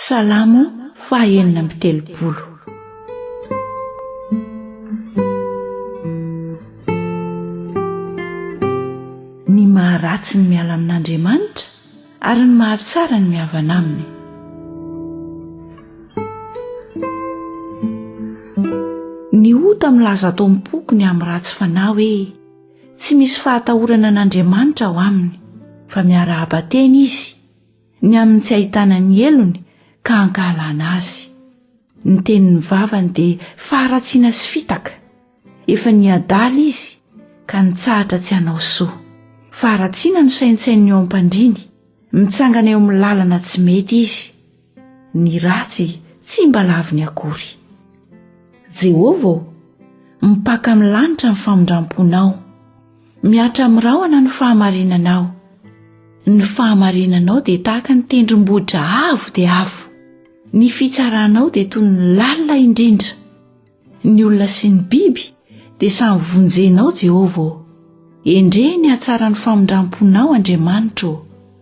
Salamo faha enina amby telopolo. Ny maharatsy ny miala amin'Andriamanitra ary ny mahatsara ny mihavana aminy. Ny ota milaza ato am-poko ny amin'ny ratsy fanahy hoe tsy misy fahatahorana an'Andriamanitra ao aminy, fa miarahaba tena izy ny amin'ny tsy ahitana ny helony ka hankahalana azy. Ny tenin'ny vavany dia faharatsiana sy fitaka. Efa niadala izy ka nitsahatra tsy hanao soa. Faharatsiana no saintsaininy eo am-pandriany, mitsangana eo amin'ny lalana tsy mety izy. Ny ratsy tsy mba laviny akory. Jehovah ô, mipaka amin'ny lanitra ny famindram-ponao. Mihatra amin'ny rahona ny fahamarinanao. Ny fahamarinanao dia tahaka ny tendrombohitra avo dia avo. Ny fitsaranao dia toy ny lalina indrindra. Ny olona sy ny biby dia samy vonjenao, Jehovah ô. Endrey ny hatsaran'ny famindram-ponao, Andriamanitra ô.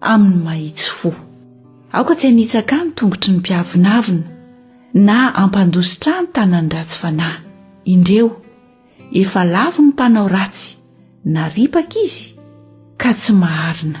amin'ny mahitsy fo. Aoka tsy hanitsaka ny tongotry ny mpiavonavona na hampandositra ahy ny tanan'ny ratsy fanahy. Indreo, efa lavo ny mpanao ratsy, na ripaka izy ka tsy maharina.